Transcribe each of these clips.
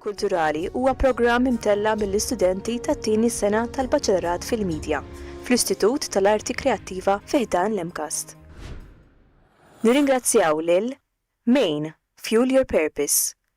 Kulturali huwa programm imtella' mill-istudenti tat-tieni sena tal-Baċelorat fil-Midja fl-Istitut tal-Arti Kreattiva fi ħdan l-MCAST. Nirringrazzjaw lil Main, Fuel Your Purpose,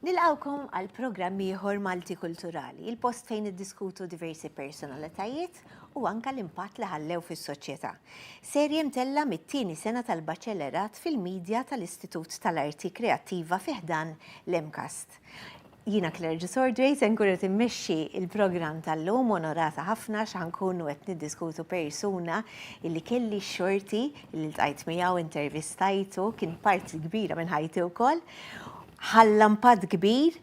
Nilqawkom għal programm ieħor Malti Kulturali, il-post fejn iddiskutu diversi personalitajiet u anka l-impatt li ħallew fis-soċjetà. Serje mtella mit-tieni sena tal-Baċellerat fil-Media tal-Istitut tal-Arti Kreattiva fi ħdan l-MCAST. Jiena Claire Gisordway se nkun qed immexxi il-programm tal-lum onorata ħafna x'ħankunu qed niddiskutu persuna illi kelli xorti li ltqajt miegħu intervistajtu kien parti kbira minn ħajti wkoll. Ħalla impatt kbir,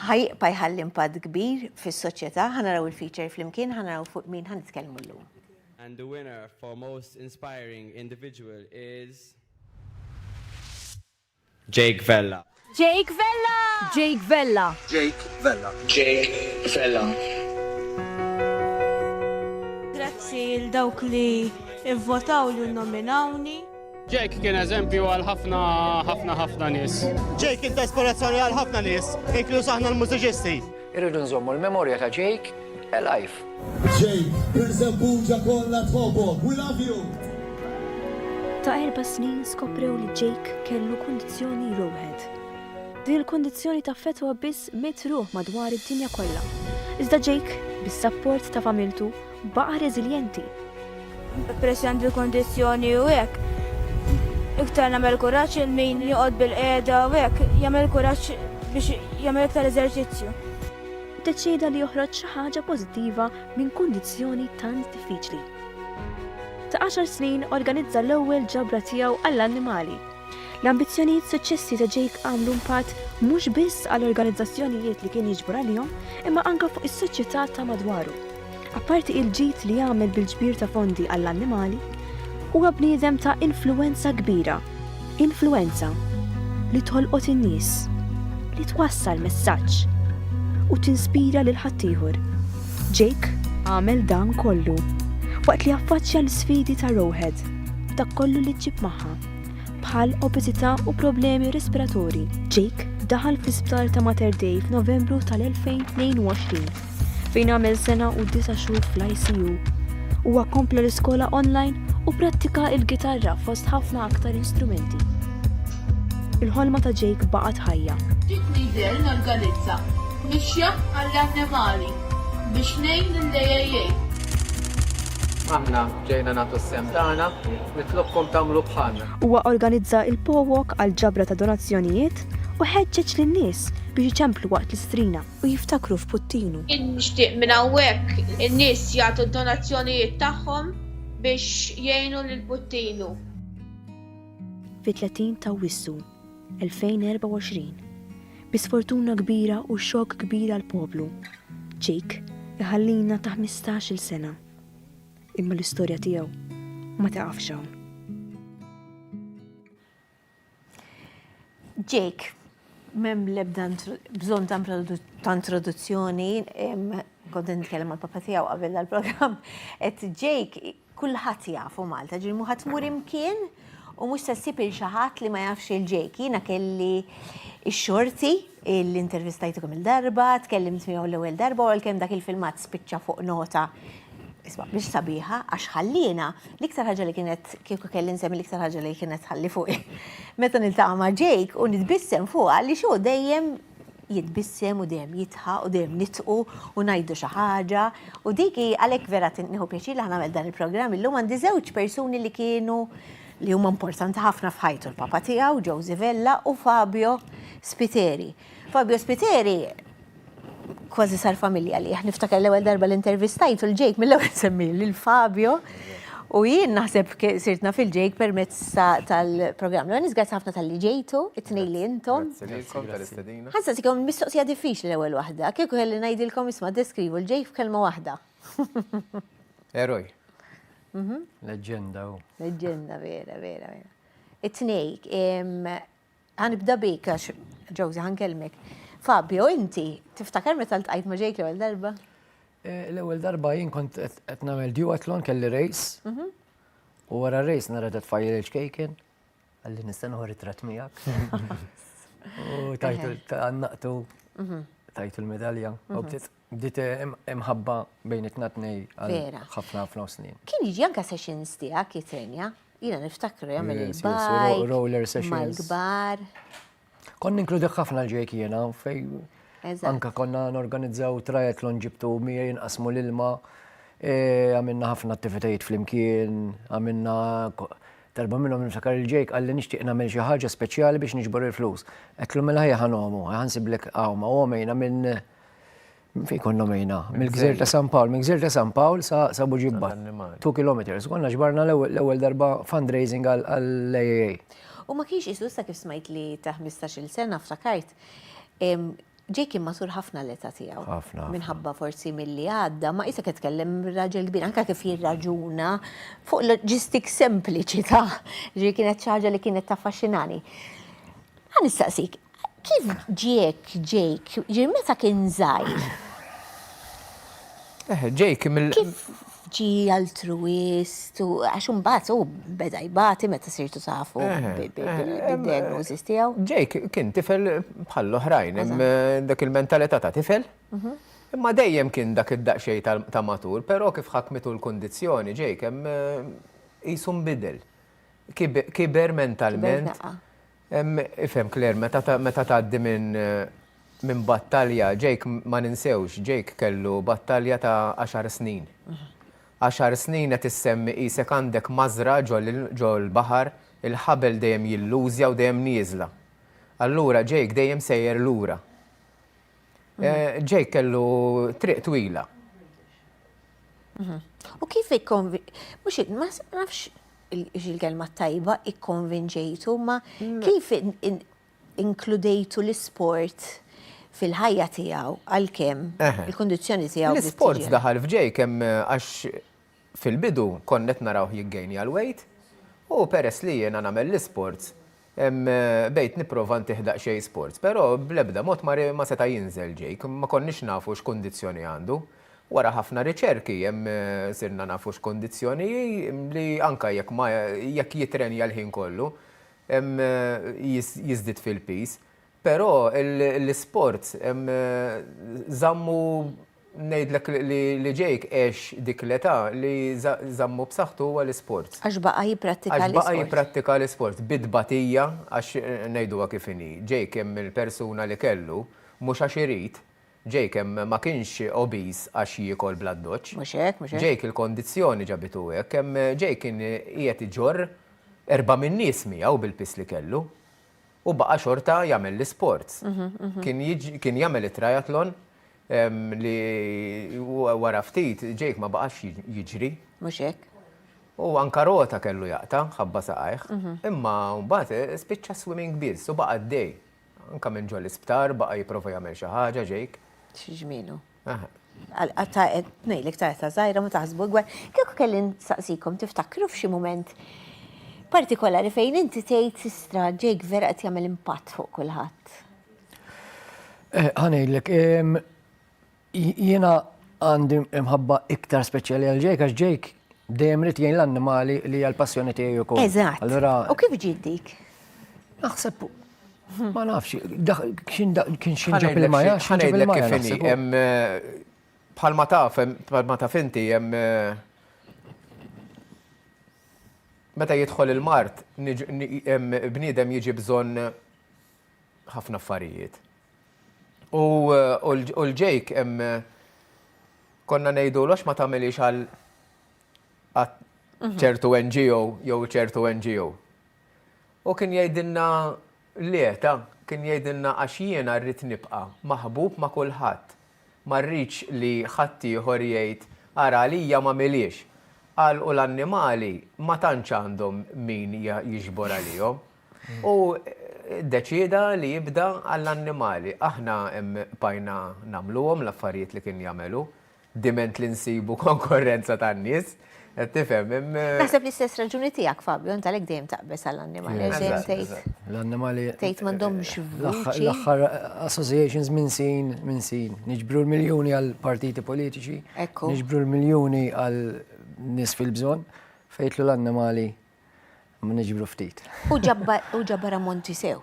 ħajqpa jħalli impatt kbir fis-soċjetà, ħanaraw il-feature flimkien, ħanaraw fuq min ħanitkellmu llum. And the winner for most inspiring individual is... Jake Vella. Jake Vella! Jake Vella! Jake Vella! Jake Vella! Grazzi il dawk li ivvotaw li nominawni. Jake kien eżempju għal ħafna ħafna ħafna nies. Jake kien ta' ispirazzjoni għal ħafna nies, inkluż aħna l-mużiċisti. Irridu nżommu l-memorja ta' Jake alive. Jake, per Żebbuġa kollha tħobbok. We love you! Ta' erba' snin skoprew li Jake kellu kundizzjoni Rowhead. Din il-kundizzjoni taffettwa biss mitt ruħ madwar id-dinja kollha. Iżda Jake, bis-sapport ta' familtu Baqa' reżiljenti. Peress li għandi l-kundizzjoni u hekk, iktar nagħmel kuraġġ lil min joqgħod bil-qiegħda u hekk jagħmel kuraġġ biex jagħmel iktar eżerċizzju. Iddeċieda li joħroġ xi ħaġa pożittiva minn kundizzjoni tant diffiċli. Ta' għaxar snin organizza l-ewwel ġabra tiegħu għall-annimali. L-ambizzjonijiet suċċessi ta' Jake għamlu impatt mhux biss għal organizzazzjonijiet li kien jiġbor għalihom imma anke fuq is-soċjetà ta' madwaru. Apparti il-ġid li jagħmel bil-ġbir ta' fondi għall-annimali, huwa bniedem ta' influwenza kbira, influwenza li tolqot in-nies, li twassal messaġġ u tinspira lil ħaddieħor. Jake għamel dan kollu waqt li affaċċja l-isfidi ta' Roehead, dak kollu li ġġib magħha, bħal obeżità u problemi respiratorji. Jake daħal fl-isptar ta' Mater Dei f'Novembru tal-2022. fejn għamel sena u disa' xhur fl-ICU. Huwa kompla l-iskola online u prattika il-gitarra fost ħafna aktar instrumenti. Il-ħolma ta' Jake baqgħet ħajja. Bdiet Needell norganizza mixja għall-annimali biex ngħin lill-AAA. Aħna ġejna nagħtu s-sehem tagħna, nitlobkom tagħmlu bħalna. Huwa organizza l-PoWalk għall-ġabra ta' donazzjonijiet u ħeġġeġ lin-nies biex iċemplu waqt l-istrina. u jiftakru f'Puttinu. Jien nixtieq minn hawnhekk in-nies jagħtu d-donazzjonijiet tagħhom biex jgħinu lil Puttinu. Fit-30 t'Awwissu, 2024, bi sfortuna kbira u xokk kbir għall-poplu, Chick iħallina ta' ħmistax-il sena. Imma l-istorja tiegħu ma tiqafx hawn. Jake, m'hemm l-ebda bżonn ta' introduzzjoni, kont qed nitkellem mal-papà tiegħu qabel dal-programm, qed Jake kulħadd jafu Malta, ġieli mhu ħa tmur imkien u mhux se ssib lil xi ħadd li ma jafx lil Jake. Jiena kelli x-xorti li intervistajtu kemm-il darba, tkellimt miegħu l-ewwel darba u għalkemm dak il-filmat spiċċa fuq nota Isma' mhix sabiħa għax ħalliena l-iktar ħaġa li kienet kieku kelli nsemmi l-iktar ħaġa li kienet ħalli fuq. Meta niltaqa' ma' Jake u nitbissem fuqha li xu dejjem jitbissem u dejjem jitħa u dejjem nitqu u ngħidu xi ħaġa u dik għalhekk vera tinqnieħu pjaċir li ħanagħmel dan il-programm illum għandi żewġ persuni li kienu li huma importanti ħafna f'ħajtu l-papa tiegħu Josie Vella u Fabio Spiteri. Fabio Spiteri kważi sar familja li niftakar l-ewwel darba l-intervistajtu l-ġejk mill-ewwel semmi lil Fabio. U jien naħseb sirtna fil-ġejk permezz tal-programm. L-għan nizgħat ħafna tal-li ġejtu, it-tnej li jintom. Għazza sikom mistoqsija diffiċ li l-ewel wahda, kieku għelli najdilkom isma deskrivu l-ġejk f'kelma wahda. Eroj. Mhm. Leġenda u. Leġenda, vera, vera, vera. It-tnejk, Ħanibda bik għax Ġewżi ħankellmek. Fabio, inti tiftakar meta ltqajt ma' Ġejk l-ewwel darba? Eh, l-ewwel darba jien kont qed nagħmel duathlon kelli rejs. Mhm. U wara rejs nara qed tfajjel il-ċkejken. Għalli nista' noħor it-trat miegħek. U tajtu għannaqtu mhm. tajtu l-medalja. Mhm. Bdiet imħabba bejn it-tna tnej għal ħafna ħafna snin. Kien jiġi anka sessions tiegħek jitrenja, jiena niftakru jagħmel il-bike. Roller sessions. Mal-kbar. Kon ninkludek ħafna l-ġejk jiena fej. Anka konna norganizzaw triathlon ġibtu mija jinqasmu l-ilma. E, għamilna ħafna attivitajiet fl-imkien, għamilna darba minnhom niftakar il-ġejk għalli nixtieq nagħmel xi ħaġa speċjali biex niġbor il-flus. Qed l-ħajja ħanomu, ħansiblek għawma, u għomejna minn Fej konna mejna, mill-gżir ta' San Pawl, mill-gżir ta' San Pawl sa' Buġibba, 2 km, konna ġbarna l-ewwel darba fundraising għall-AAA. U ma kienx isu sa kif smajt li ta' 15-il sena ftakart, Jake kien matur ħafna l-età tiegħu. Ħafna. Minħabba forsi milli għadda, ma qisek qed tkellem raġel kbir, anke kif jirraġuna fuq loġistik sempliċi ta' ġri kienet xi ħaġa li kienet taffaxxinani. Ħa nistaqsik, kif ġiek Jake, ġifieri meta kien żgħir? Eħe, Jake mill-. Kif ġie altruwist u għax imbagħad hu beda jbati meta sirtu tafu bil-diagnosis tiegħu? Jake kien tifel bħall-oħrajn, dak il-mentalità ta' tifel. Imma dejjem kien dak id-daqsxejn ta' matur, però kif ħakmitu l-kundizzjoni Jake hemm qisu nbidel. Kiber mentalment. Ifhem Claire, meta tgħaddi minn minn battalja, Jake ma ninsewx, Jake kellu battalja ta' għaxar snin. Għaxar snin qed issemmi qisek għandek mażra ġol-baħar, il-ħabel dejjem jillużja u dejjem nieżla. Allura Jake dejjem sejjer lura. Jake kellu triq twila. U kif ikkonvi... Mux, ma nafx il-kelma tajba ikkonvinġejtu, ma kif inkludejtu l-sport fil-ħajja tijaw għal-kem, il-kondizjoni tijaw. L-sport daħal f'ġej kem għax Fil-bidu kont qed narawh jiggejnja l-wejt u peress li jiena nagħmel l-isports, bdejt nipprova ntih daqsxejn sports, però bl-ebda mod ma seta' jinżel Jake, ma konniex nafu x'kundizzjoni għandu. Wara ħafna riċerki sirna nafu x'kundizzjoni hi li anke jekk ma jekk jitrenja l-ħin kollu jiżdied fil-piż. Però l-isport żammu ngħidlek li Jake għex dik l-età li żammu b'saħħtu huwa l-isport. Għax baqa' jipprattika l-isport. Għax baqa' jipprattika l-isport bi tbatija għax ngħiduha kif inhi, Jake hemm il-persuna li kellu mhux għax irid, Jake hemm ma kienx obese għax jiekol bl-addoċċ. Mhux hekk, mhux hekk. Jake il-kondizzjoni ġabitu hekk, hemm Jake kien qiegħed iġorr erba' min-nies miegħu bil-piż li kellu. u baqa' xorta jagħmel l-isports. Kien jagħmel it-triathlon li wara ftit Jake ma baqax jiġri. Mhux hekk. U anka rota kellu jaqta' ħabba saqajh, imma mbagħad spiċċa swimming biss u baqa' għaddej. Anka minn ġol-isptar baqa' jipprova jagħmel xi ħaġa Jake. Xi ġmielu. Aha. Għatta nejlek ta' ta' zaħira ma taħsbu għar. Kieku kelli nsaqsikom tiftakru f'xi moment partikolari fejn inti tgħid sistra ġejk vera qed jagħmel impatt fuq kulħadd. Eh, Ħanejlek, jiena għandi mħabba iktar speċjali għal ġejk għax ġejk dejjem rid jgħin l-annimali li għal passjoni tiegħi wkoll. Eżatt. Allura. U kif ġid dik? Naħseb Ma nafx, kien xinġab il-maja, xinġab il-maja. Bħalma taf, bħalma taf inti, jem. Meta jidħol il-mart, bniedem jiġi bżon ħafna affarijiet. U l-ġejk, konna nejdu l ma tamilix għal ċertu NGO jew ċertu NGO. U kien jgħidilna, Le, ta. Kien jgħidilna, Għax jiena rrid nibqa' maħbub ma' kulħadd. Ma rridx li ħaddieħor jgħid, Ara għalija m'għamilhiex. Qal, U l-annimali ma tantx għandhom min jiġbor għalihom. U ddeċieda li jibda għall-annimali. Aħna bqajna nagħmluhom l-affarijiet li kien jagħmel hu. diment li nsibu konkorrenza tan-nies. Qed tifhem? Naħseb li stess raġuni tiegħek Fabio, int għalhekk dejjem taqbeż għall-annimali. L-annimali. Tgħid m'għandhomx vuċi. L-aħħar associations minn sin minn sin. Niġbru l-miljuni għal partiti politiċi. Ekku. Niġbru l-miljuni għal nies fil-bżonn fejtlu l-annimali ma niġbru ftit. U ġabbar ammonti sew.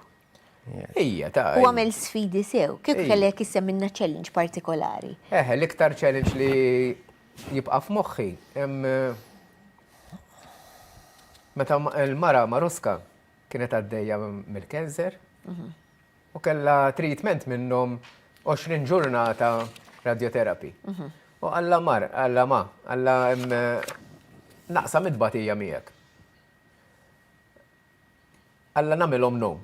Ija, ta' U għamel sfidi sew, kif kellek issem minna challenge partikolari. Eħe, l-iktar challenge li jibqa' f'moħħi. Meta l-mara Maruska kienet għaddejja mill-kanser mhm. u kella treatment minnhom 20 ġurnata radioterapi. Mhm. U għalla mar, għalla ma, għalla naqsa mitbatija miegħek. Alla nagħmel omm nom.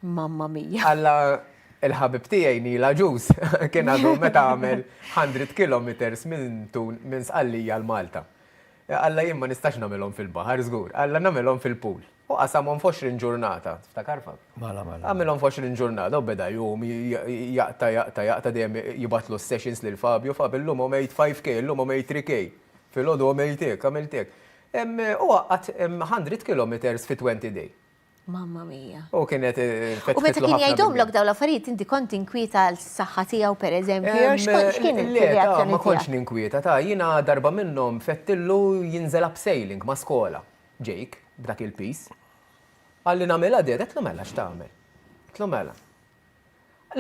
Mamma mia. Alla il-ħabib tiegħi Neil Agius kien għadu meta għamel 100 kilometres minn Sqallija l-Malta. Alla jien ma nistax nagħmel omm fil-baħar żgur, alla nagħmel omm fil-pool. U qasam omm f'għoxrin ġurnata, tiftakar Fab? Mela, mela. Għamel omm f'għoxrin ġurnata u beda jgħum jaqta' jaqta' jaqta' dejjem jibgħatlu s-sessions lil Fabio, Fab illum għomejt 5K, illum għomejt 3K, filgħodu għomejt hekk, għamilt hekk. U għaqqad 100 kilometers fi 20 day. Mamma mia. U kienet fetħitlu. U meta kien jgħidhomlok dawn l-affarijiet inti kont tinkwieta għal saħħa tiegħu pereżempju jew x'kien il-reazzjoni tiegħek? Ma kontx ninkwieta ta' jiena darba minnhom fettillu jinżel abseiling ma' skola. Jake, b'dak il-piż. Qalli nagħmilha dad, għedtlu mela x'tagħmel. Għedtlu mela.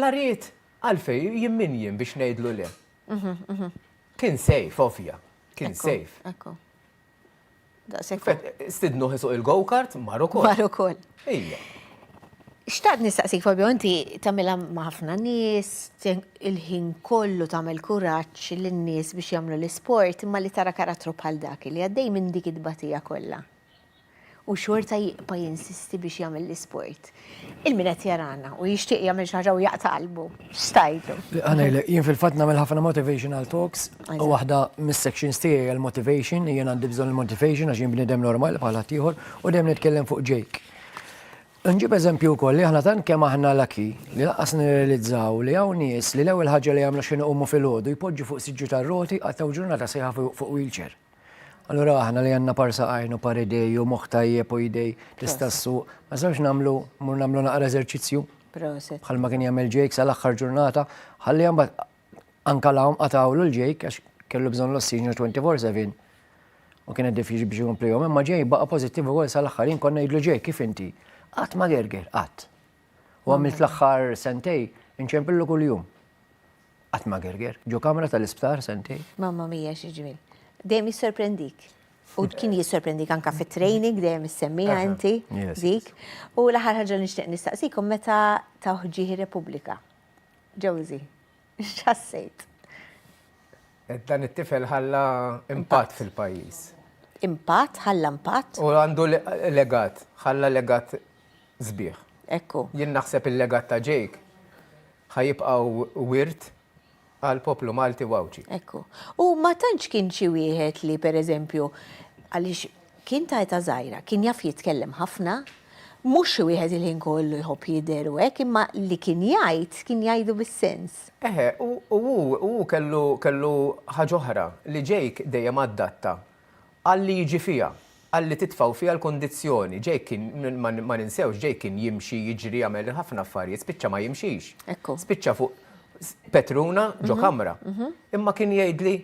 La ried, għalfejn jien min jien biex ngħidlu le. Kien sejf, ovvja. Kien sejf. Ekku. Stidnu ħisuq il-go-kart, mar ukoll. Mar ukoll. Ija. Xtaqt nistaqsik, Fabio, inti tamila maħfna nis, il-ħin kollu tamil kuraċ l-nis biex jamlu l-sport, imma li tara karattru bħal dak li għaddej minn dik id-batija kollha. u xorta jibqa' jinsisti biex jagħmel l-isport. Il-min qed jarana u jixtieq jagħmel xi ħaġa u jaqta' qalbu. X'tgħidlu? Għanejlek, jien fil-fatt nagħmel ħafna motivational talks u waħda mis-sections tiegħi għal motivation jien għandi bżonn il-motivation għax jien bniedem normali bħal ħadd ieħor u dejjem nitkellem fuq Jake. Nġib eżempju wkoll li aħna tant kemm aħna laki li laqas nirrealizzaw li hawn nies li l-ewwel ħaġa li jagħmlu xi noqogħmu fil-għodu jpoġġu fuq siġġu tar-roti għattaw ġurnata sejħa fuq wheelchair. Allura aħna li għandna parsa għajn u par idej u moħħ tajjeb u idej tista' ssuq, ma sawx nagħmlu mur nagħmlu naqra eżerċizzju. Proset. Bħal ma kien jagħmel ġejk sal-aħħar ġurnata, ħalli mbagħad anka lawm qatawlu l-ġejk għax kellu bżonn l-ossiġnu 24/7. U kien qed diffiċli biex jkompli jom, imma ġej baqa' pożittiv ukoll sal-aħħar jien konna jidlu ġej kif inti. Qatt ma gerger, qatt. U għamilt l-aħħar sentej inċempillu kuljum. Qatt ma gerger. Ġo kamra tal-isptar sentej. Mamma mia xi ġmiel. Dejjem jissorprendik. U kien jissorprendik anka fit-training dejjem issemmija inti dik. U l-aħħar ħaġa nixtieq nistaqsikom meta ta' ħġieħ ir-Repubblika. Josie, x'ħassejt? Dan it-tifel ħalla impatt fil-pajjiż. Impatt, ħalla impatt. U għandu legat, ħalla legat sbieħ. Ekku. Jien naħseb il-legat ta' Jake. Ħa jibqgħu wirt għall-poplu Malti u Għawdxi. Hekk hu. U ma tantx kien xi wieħed li pereżempju, għaliex kien ta' età żgħira, kien jaf jitkellem ħafna, mhux xi wieħed il-ħin kollu jħobb jidher u hekk, imma li kien jgħid, kien jgħidu bis-sens. Eħe, u hu kellu kellu ħaġa oħra, li Jake dejjem adatta Qalli jiġi fiha. Qalli titfgħu fiha l-kundizzjoni. Jake kien, ma ninsewx, Jake kien jimxi, jiġri, jagħmel ħafna affarijiet, spiċċa ma jimxix. Ekku. Spiċċa fuq petruna ġo kamra. Imma kien jgħidli,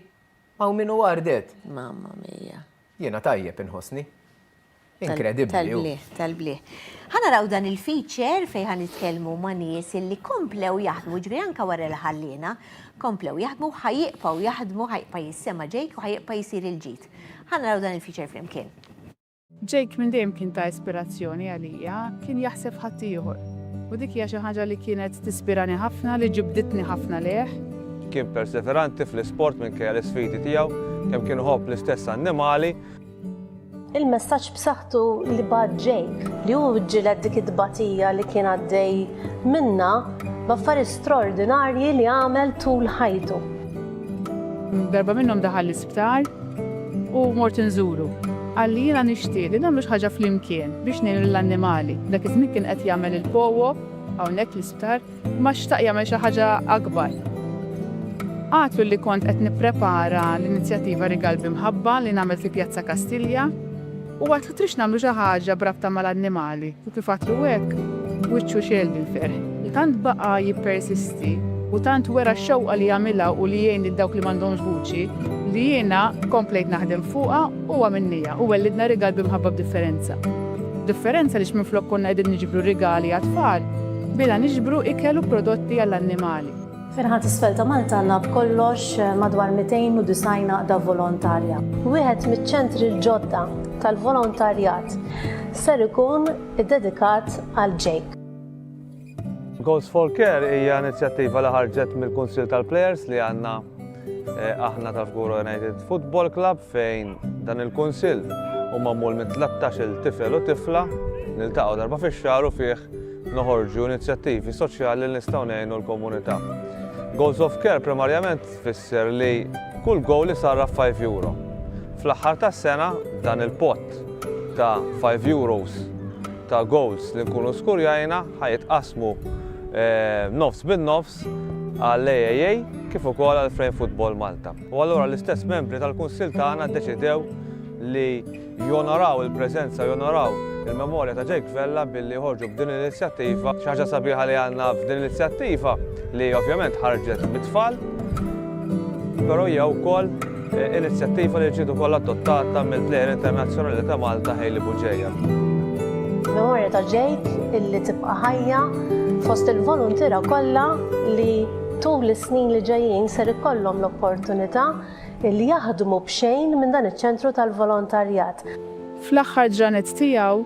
Hawn min hu għardet. Mamma mia. Jiena tajjeb inħossni. Inkredibbli. Tal-blieh, tal-blieh. Ħa naraw dan il-feature fejn ħa nitkellmu ma' nies illi komplew jaħdmu, ġifieri anke wara li ħalliena, komplew jaħdmu, ħa jibqgħu jaħdmu, ħa jibqa' jissema' Jake u ħa jibqa' jsir il-ġid. Ħa naraw dan il-feature flimkien. Jake minn dejjem kien ta' ispirazzjoni għalija, kien jaħseb f'ħaddieħor. U dik hija xi ħaġa li kienet tispirani ħafna, li ġibditni ħafna lejh. Kien perseveranti fl-isport minkejja l-isfidi tiegħu, kemm kien iħobb l-istess annimali. Il-messaġġ b'saħħtu li bagħat Jake, li hu ġġieled dik it-tbatija li kien għaddej minnha b'affarijiet straordinarji li għamel tul ħajtu. Darba minnhom daħal l-isptar u mort inżuru. Qalli jiena nixtieq li nagħmlu xi ħaġa flimkien biex ngħinu lill-annimali. Dak iż-żmien kien qed jagħmel il-powo hawnhekk fl-isptar. Ma xtaq jagħmel xi ħaġa akbar. Għadtlu li kont qed nipprepara l-inizjattiva Rigal bi Mħabba li nagħmel fi Pjazza Kastilja u għadtlu trix nagħmlu xi ħaġa b'rabta mal-annimali u kif għadtlu hekk, wiċċu xegħel bil-ferħ. Tant baqa' jippersisti u tant wera x-xewqa li jagħmilha u li jgħin lil dawk li m'għandhomx vuċi li jiena komplejt naħdem fuqha u għamilniha u wellidna Rigal bi Mħabba b'Differenza. B'differenza għaliex minflok konna qegħdin niġbru rigali għat-tfal, Bilha niġbru ikel u prodotti għall-annimali. Fil-Ħadd Isfel ta' Malta għandna b'kollox madwar 290 għaqda volontarja. Wieħed miċ-ċentri l-ġodda tal-volontarjat ser ikun iddedikat għal Jake. Goals for Care hija inizjattiva li ħarġet mill-Kunsill tal-Plejers li għandna aħna tal-Fgura United Football Club fejn dan il-Kunsill u magħmul minn 13-il tifel u tifla niltaqgħu darba fix-xahar u fih noħorġu inizjattivi soċjali li nistgħu ngħinu l-komunità. Goals of Care primarjament tfisser li kull goal li sarra 5 euro. Fl-aħħar tas-sena dan il-pot ta' 5 euros ta' goals li nkunu skurjajna ħajitqasmu eh, nofs bin nofs għall-AAA kif ukoll għal Frame Football Malta. U allura l-istess membri tal-Kunsil tagħna ddeċidew li jonoraw il-preżenza, jonoraw il-memorja ta' Jake Vella billi joħorġu b'din l-inizjattiva. Xi ħaġa sabiħa li għandna f'din l-inizjattiva li ovvjament ħarġet mit-tfal, però hija wkoll eh, inizjattiva li ġiet ukoll adottata mill-plejer internazzjonali ta' Malta Hailey Buġeja. Memorja ta' Jake illi tibqa' ħajja fost il-volontira kollha li tul is-snin li ġejjin ser ikollhom l-opportunità li jaħdmu b'xejn minn dan iċ-ċentru tal-volontarjat. Fl-aħħar ġranet tiegħu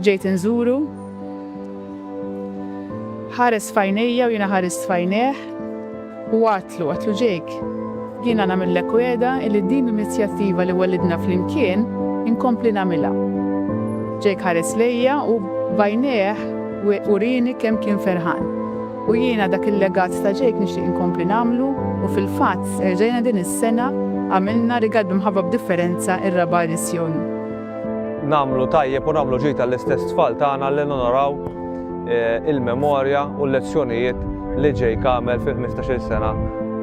ġejt inżuru. Ħares f'għajnejja u jiena ħarist f'għajnejh u għadtlu, għadtlu Jake, jiena nagħmillek wegħda illi din l-inizjattiva li wellidna flimkien inkompli nagħmilha. Jake ħares lejja u b'għajnejh urini kemm kien ferħan. U jiena dak il-legat ta' Jake nixtieq inkompli nagħmlu u fil-fatt erġajna din is-sena għamilna rigal b'Imħabba b'Differenza r-raba' edizzjoni. Nagħmlu tajjeb u nagħmlu ġid għall-istess tfal tagħna li nonoraw il-memorja u l-lezzjonijiet li Jake għamel fil-ħmistax-il sena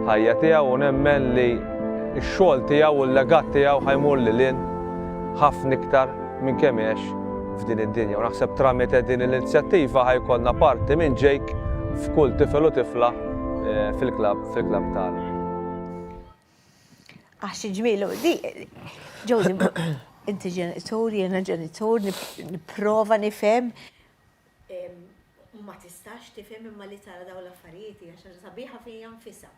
ħajja tiegħu u nemmen li x-xogħol tiegħu u l-legat tiegħu ħa jmur lil hinn ħafna iktar minn kemm għex f'din id-dinja u naħseb tramite din l-inizjattiva ħa jkollna parti minn Jake f'kull tifel u tifla fil-klabb fil-klabb tagħna. Għax xi ġmiel u di Jody inti ġenitur, jiena ġenitur, nipprova nifhem ma tistax tifhem imma li tara dawn l-affarijiet hija xi sabiħa fija nfisha.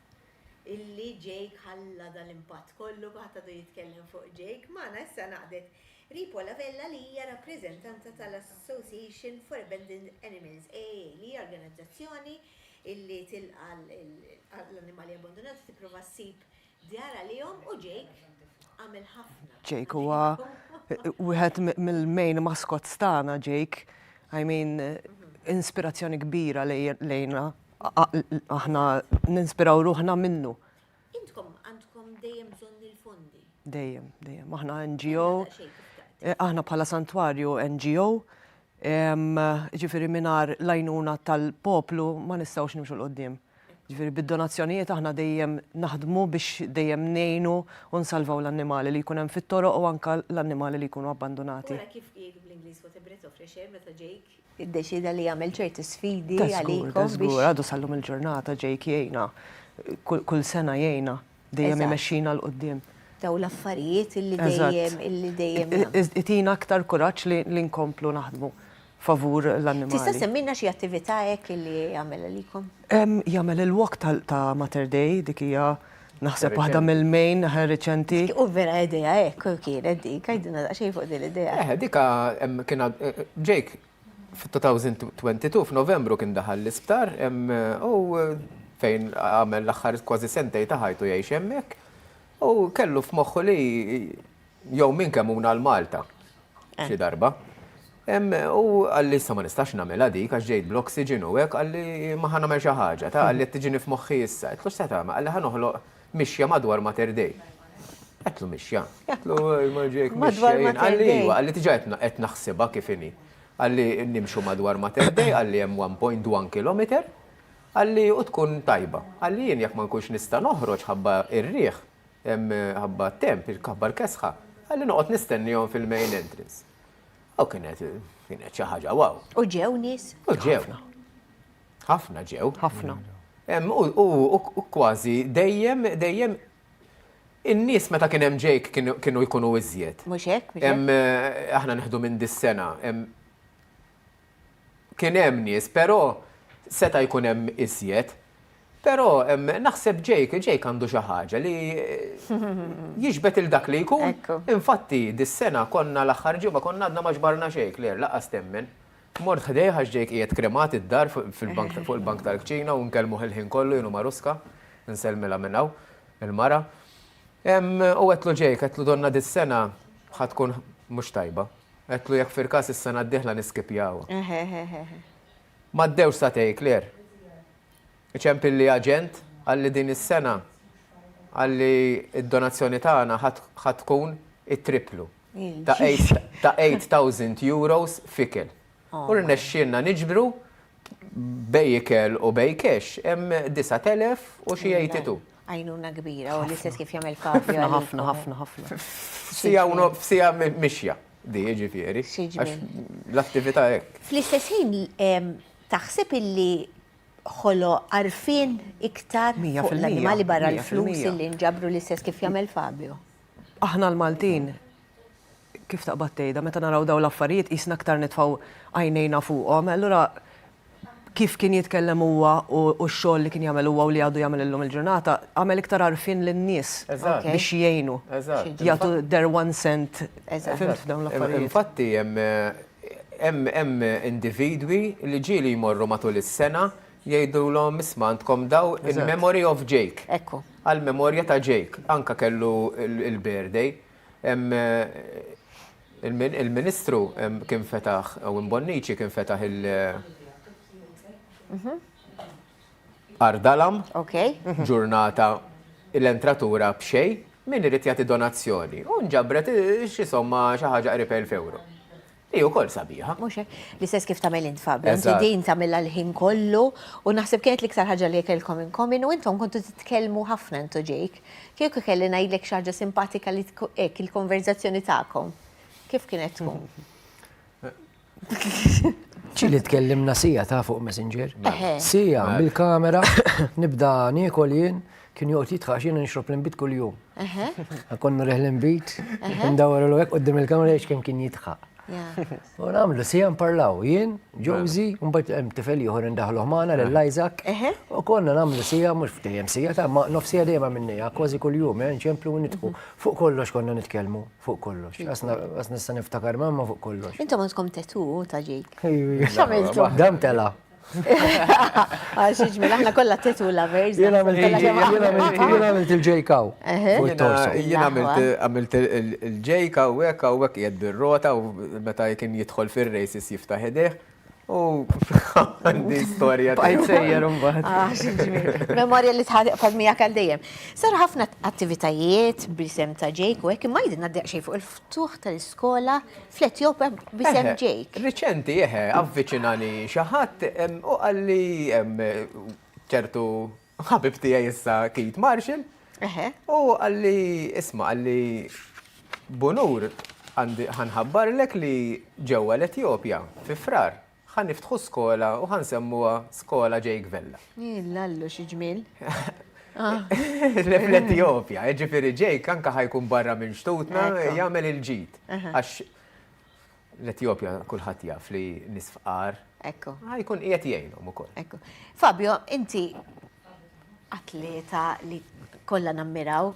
Illi Jake ħalla dal-impatt kollu għata du jitkellem fuq Jake, magħna issa naqdet Ripo La Vella li hija rappreżentanta tal-Association for Abandoned Animals, AA, li hija organizzazzjoni li tilqa' l-annimali abbandunati tipprova ssib djar għalihom u Jake għamel ħafna. Jake huwa wieħed mill-main mascots tagħna Jake. I mean inspirazzjoni kbira lejna aħna ninspiraw ruħna minnu. Intkom għandkom dejjem bżonn il-fondi? Dejjem, dejjem. Aħna NGO. Aħna bħala Santwarju NGO. Ġifieri mingħajr l-għajnuna tal-poplu ma nistgħux nimxu l-qoddim. Ġifieri bid-donazzjonijiet aħna dejjem naħdmu biex dejjem ngħinu u nsalvaw l-annimali li jkun hemm fit-toroq u anke l-annimali li jkunu abbandunati. Ara kif qiegħed bl-Ingliż what a breath of fresh air meta ġejk iddeċieda li jagħmel ċerti sfidi għalikom. Ta' żgur, għadu sal-lum il-ġurnata ġejk jgħinna, kull sena jgħinna, dejjem imexxina l-qudiem. Daw l-affarijiet illi dejjem, illi dejjem. Itina aktar kuraġġ li nkomplu naħdmu favur l-annimali. Tista' semmina xi attività hekk illi jagħmel għalikom? Jagħmel il-walk ta' Mater Dei, dik hija Naħseb waħda mill-main aħna riċenti. U vera idea hekk kienet dik, għidilna daqsxejn fuq din l-idea. Eh, dika kien Jake fit-2022 f'Novembru kien daħal l-isptar u fejn għamel l-aħħar kważi sentej ta' ħajtu jgħix hemmhekk u kellu f'moħħu li jew min kemmuna għal Malta eh. xi darba. U għalli issa ma nistax namela dik, għax ġejt bl-oxygen u għek, għalli ma ħana namel xaħġa, ta' għalli t-tġini f'moħħi issa. Għetlu s-seta, għalli ħanoħloq mixja madwar ma terdej. Għetlu mixja, għetlu ma ġejk madwar ma terdej. Iva, għalli t-ġa għet naħsiba kifini. Għalli nimxu madwar ma terdej, għalli jem 1.1 km, għalli u tkun tajba. Għalli jien jek ma nkunx nista noħroġ ħabba ir-riħ, Imħabba t-temp, il-kabbar kesħa, ħalli noqgħod nistennihom fil-main entrance. U kienet kienet xi ħaġa wow. U ġew nies? U ġew. Ħafna ġew. Ħafna. U kważi dejjem dejjem in-nies meta kien hemm ġejk kienu jkunu iżjed. Mhux hekk, mhux hekk. Eh, aħna neħdu minn dis-sena kien hemm nies, però seta' jkun hemm iżjed. Però naħseb Jake, Jake għandu xi ħaġa li jiġbed lil dak li jkun. Infatti, dis-sena konna l-aħħar ġimgħa konna għadna ma ġbarna xejn, Claire, lanqas temmen. Mort ħdejh għax Jake qiegħed kremat id-dar fuq il-bank tal-kċina u nkellmuh il-ħin kollu jien u Marusca, insellmilha minn hawn, il-mara. U għedtlu Jake, għedtlu donnha dis-sena ħa tkun mhux tajba. Għedtlu jekk firkas is-sena d-dieħla niskipjawha. Ehehehehe. M'għaddewx sagħtej, Claire. Iċempilli aġent, qalli din is-sena, qalli d-donazzjoni tagħna ħa tkun it-tripplu, ta' eight thousand euros f'ikel. U rnexxielna niġbru bej ikel u bej cash hemm 9,000 u xi 82. Għajnuna kbira u l-istess kif jagħmel Fabio. Ħafna, ħafna, ħafna. Sija u nof, sija mixja di ġifieri. L-attività hekk. Fl-istess ħin taħseb illi ħolo għarfien iktar fuq l-annimali barra l-flus illi nġabru l-istess kif jagħmel Fabio? Aħna l-Maltin Kif taqbad tgħidha, meta naraw dawn l-affarijiet qisna aktar nitfgħu għajnejna fuqhom. Allura kif kien jitkellem huwa u x-xogħol li kien jagħmel huwa u li għadu jagħmel illum il-ġurnata, għamel iktar għarfien lin-nies biex jgħinu, jagħtu their one cent fimt f'dawn l-affarijiet. Infatti hemm individwi li ġieli jmorru matul is-sena jgħidulhom isma' għandkom dawn in memory of Jake, għall-memorja ta' Jake, anke kellu l-birthday. Il-Ministru kien fetaħ, u Bonnici kien fetaħ il- Ardalam, ġurnata l-entratura b'xej, min irid jagħti donazzjoni. U nġabret xi somma xi ħaġa qrib 1000 ewro. Hi wkoll sabiħa. Mhux hekk? L-istess kif tagħmel int Fabio, inti din tagħmilha l-ħin kollu u naħseb kienet l-iktar ħaġa li kellkom inkomin u intom kontu titkellmu ħafna intu ġejk. Kieku kelli ngħidlek xi ħaġa simpatika li hekk il-konverzazzjoni tagħkom. Kif kienet tkun? ċili tkellimna sija ta' fuq Messenger. Sija, bil-kamera, nibda niekol jien. Kien joqgħod jitħax jiena nixrob l-inbid kuljum. Konna reħ l-inbid, ndawar l hekk qudiem il-kamra jiex kemm kien jitħaq. U nagħmlu sija nparlaw jien, Josi, mbagħad hemm tifel ieħor indaħlu ħmana lil Isaac. U konna nagħmlu sija mhux ftehjem sija ta' ma nofsija dejjem minnija, kważi kuljum eh, nċemplu u nidħu. Mhm. Fuq kollox konna nitkellmu, fuq kollox. Għas nista' niftakar mamma fuq kollox. Intom għandkom tetu ta' ġej. X'għamiltu? Dam tela. Għax iġmil, aħna kollha tetu lovers. Jien għamilt il-ġejkaw. Jien għamilt il-ġejkaw, hekk u hekk qiegħed bir-rota u meta kien jidħol fir-races jiftaħ idejh. U għandi storja ta' jgħajr un baħt. Memorja li tħad fadmija kal dejjem. Saru ħafna attivitajiet brisem ta' ġejk u hekk imma jidna d-deqxej fuq ftuħ tal-iskola fl-Etjopja b'isem Jake. Riċenti, eħe, avviċinani xi ħadd u qalli ċertu ħabib tiegħi issa Keith Marshall. Eħe. U qalli isma' qalli Bunur ħanħabbarlek li ġewwa l-Etjopja fi frar Ħa niftħu skola u ħa nsemmuha Skola Jake Vella. L-Allu xi ġmiel. L-Etjopja, jiġifieri Jake anke ħa jkun barra minn xtutna jagħmel il-ġid. Għax l-Etjopja kulħadd jaf li nies fqar. Ekku. Ħa jkun qiegħed jgħinhom ukoll. Ekku. Fabio, inti atleta li kollha nammiraw,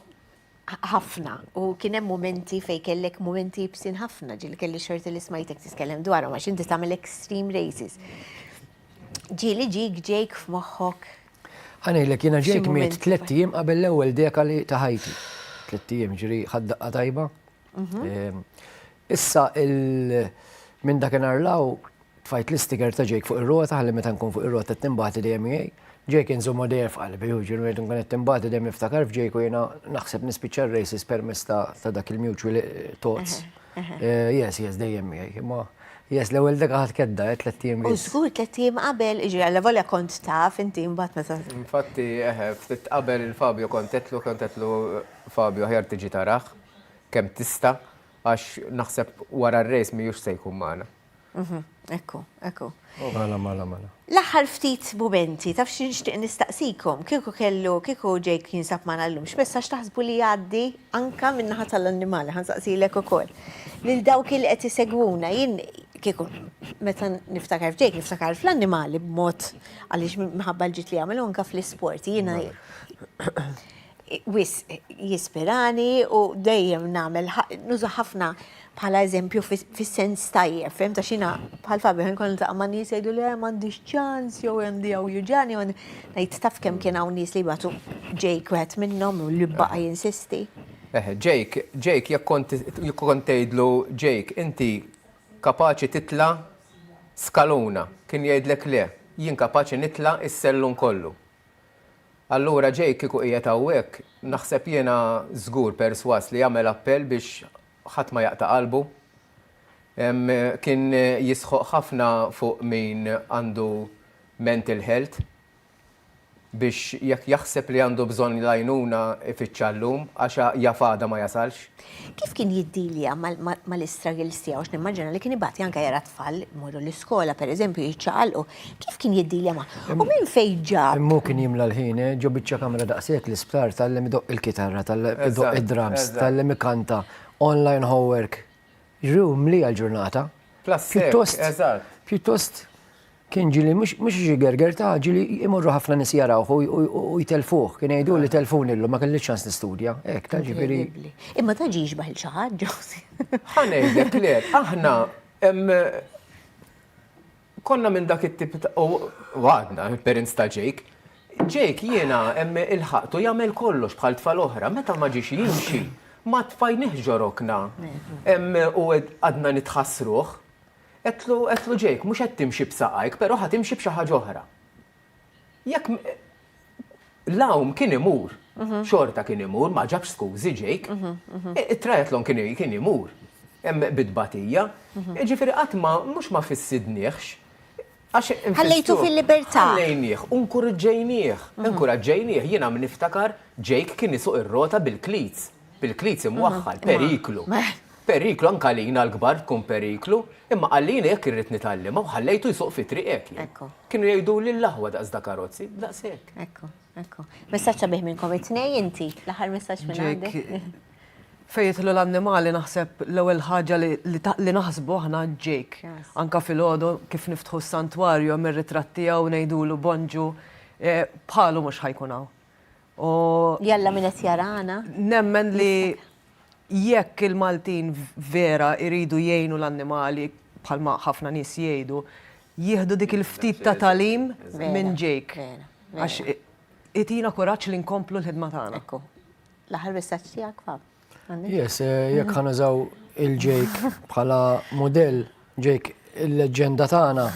ħafna u kien hemm momenti fejn kellek momenti jibsin ħafna ġil kelli xorti li smajtek tiskellem dwarhom għax inti tagħmel extreme races. Ġieli ġik ġejk f'moħħok. Ħanejlek jiena ġejk miet tliet ijiem qabel l-ewwel deka li ta' ħajti. Tliet ijiem ġri ħaddaqqa tajba Mhm. Issa minn dak inarlaw tfajt l-istiker ta' ġejk fuq ir-rota ħalli meta nkun fuq ir-rota timbati dejjem jgħid. Ġejk inżommu dejjem f'qalbi, u ġiru jgħid nkun qed timbati dejjem niftakar f'ġejk u jiena naħseb nispiċċa r-races permezz ta' dak il-mutual thoughts. Eh, yes, yes, dejjem miegħi. Imma yes, l-ewwel dega ħadd kedda qed eh, tliet ijiem. U żgur tliet ijiem qabel, iġri għal volja kont taf inti mbagħad meta. Infatti, eh, ftit qabel il-Fabio kontetlu, kontetlu Fabio ħjar tiġi tarax. kemm tista' għax naħseb wara r-race mhijiex se jkun magħna. Mhm, ekku, ekku. Mala, mala, mala. L-aħħar ftit mumenti, taf xi nixtieq nistaqsikom, kieku kellu, kieku Jake jinsab magħna llum, x'messaġġ taħsbu li jgħaddi anke min-naħa tal-annimali, ħa nsaqsilek ukoll. Lil dawk li qed isegwuna, jien kieku meta niftakar f'Jake niftakar fl-annimali b'mod għaliex minħabba l-ġid li jagħmel u anke fl-isport. Jiena wisq jispirani u dejjem nagħmel nuża ħafna bħala eżempju fis-sens tajjeb, fim ta' xina bħal fabi ħin kont niltaqa' ma' nies jgħidu li eh, m'għandix ċans jew hemm di jew juġani u ngħid taf kemm kien hawn nies li jbatu Jake wieħed minnhom u li baqa' jinsisti. Eh, Jake, Jake jekk kont tgħidlu Jake, inti kapaċi titla' skaluna, kien jgħidlek le, jien kapaċi nitla' is-sellun kollu. Allura Jake kieku qiegħed hawnhekk, naħseb jiena żgur persważ li jagħmel appell biex ħadd ma jaqta' qalbu. Kien jisħoq ħafna fuq min għandu mental health biex jekk jaħseb li għandu bżonn l-għajnuna ifittxha llum għax jaf għada ma jasalx. Kif kien jiddilja mal-istruggles tiegħu għax nimmaġina li kien ibati anke jara tfal imorru l-iskola pereżempju jiċċaqalqu. Kif kien jiddilja magħhom? U minn fejn ġab? Imma hu kien jimla l-ħin, eh? Ġo biċċa kamra daqshekk l-isptar, tgħallem idoqq il-kitarra, tgħallem idoqq id-drums, tgħallem ikanta, online homework. Jiġifieri hu mliha l-ġurnata. Pjuttost, pjuttost. Kien ġieli mhux mhux xi gerger ta' ġieli imorru ħafna nies jarawh u- u- u- u jtellfuh. Kien jgħiduli tellfuni llum, ma kellix ċans nistudja. Hekk, ta' ġifieri. Inkredibbli. Imma ta' ġie jixbah lil xi ħadd, Ġose? Ħa ngħidlek le, aħna em, konna minn dak it-tip ta' u u għadna, il-parents ta' Jake. Jake jiena em, ilħaqtu jagħmel kollox bħal tfal oħra, meta ma ġiex jimxi, ma tfajnieħx ġo rokna. Em, u għadna nitħassruh. Għedtlu, għedtlu Jake, mhux qed timxi b'saqajk, però ħa timxi b'xi ħaġa oħra. Jekk m. L-għawm kien imur, xorta kien imur, ma ġabx skużi Jake. It-triathlon kien, kien imur. Hemm bi tbatija. Jiġifieri qatt ma, mhux ma fissidnieħx. Għax infittxuh. Ħallejtu fil-libertà. Ħallejnieh u nkuriġġejnieh. Inkuraġġejnieh. Jiena minn niftakar Jake kien isuq ir-rota bil-cleats. Bil-cleats imwaħħal. Periklu. Periklu anke għalina l-kbar tkun periklu. Imma qalli jiena jekk irrid nitgħallimha u ħallejtu jsuq fit-triq hekk jien. Ekku. Kienu jgħiduli l-aħwa daqs da karozzi. Daqs hekk. Ekku. Ekku. Messaġġ sabiħ minnkom it-tnejn inti. L-aħħar messaġġ minn għandek. Jake. Fejn jidħlu l-annimali naħseb l-ewwel ħaġa li naħsbu aħna Jake. Anke filgħodu kif niftħu s-santwarju hemm ir-ritratt tiegħu ngħidulu Bonġu bħalu mhux ħa jkun hawn. Jalla min qed jarana. Nemmen li jekk il-Maltin vera jridu jgħinu l-annimali bħalma ħafna nies jgħidu, jieħdu dik il-ftit ta' tagħlim minn Jake. Għax itina kuraġġ li nkomplu l-ħidma tagħna. L-aħħar messaġġ tiegħek fa? Yes, eh, jekk ħanużaw il-ġejk bħala modell ġejk il-leġenda tagħna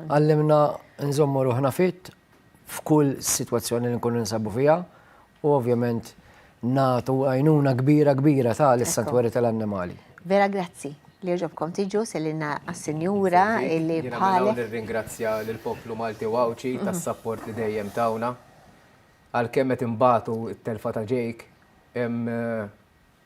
għallimna nżommu ruħna fit f'kull sitwazzjoni li nkunu nsabu fiha u ovvjament natu għajnuna kbira kbira ta' l-santwari tal-annimali. Vera grazzi li ġobkom tiġu selina għas-senjura li bħalek. Ringrazzja l-poplu Malti u Għawċi tas-sapport li dejjem tawna. Għalkemm qed inbatu t-telfa ta' Jake,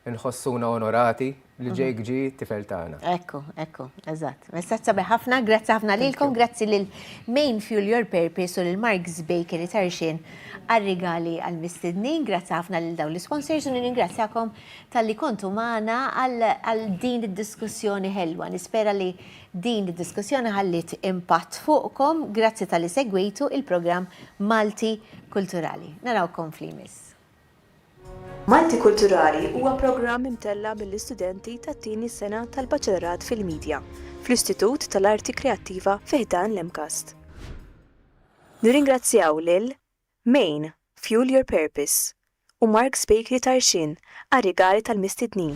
inħossuna onorati li Jake ġie t-tifel tagħna. Ekku, ekku, eżatt. Messaġġ sabiħ ħafna, grazzi ħafna lilkom, grazzi lil Main Fuel Your Purpose u lil Mark's Bakery Tarxien għar-rigali għall-mistednin. Grazzi ħafna lil dawn l-isponsors u nirringrazzjakom talli kontu magħna għal din id-diskussjoni ħelwa. Nispera li Din id-diskussjoni ħalliet impatt fuqkom, grazzi talli segwejtu il-programm Malti Kulturali. Narawkom f'li jmiss. Malti Kulturali huwa programm imtella' mill-istudenti tat-tieni sena tal-Baċelorat fil-Media fl-Istitut tal-Arti Kreattiva fi ħdan l-MCAST. Nirringrazzjaw lil. Main, Fuel Your Purpose, u Mark's Bakery Tarxien għar-rigali tal-mistednin.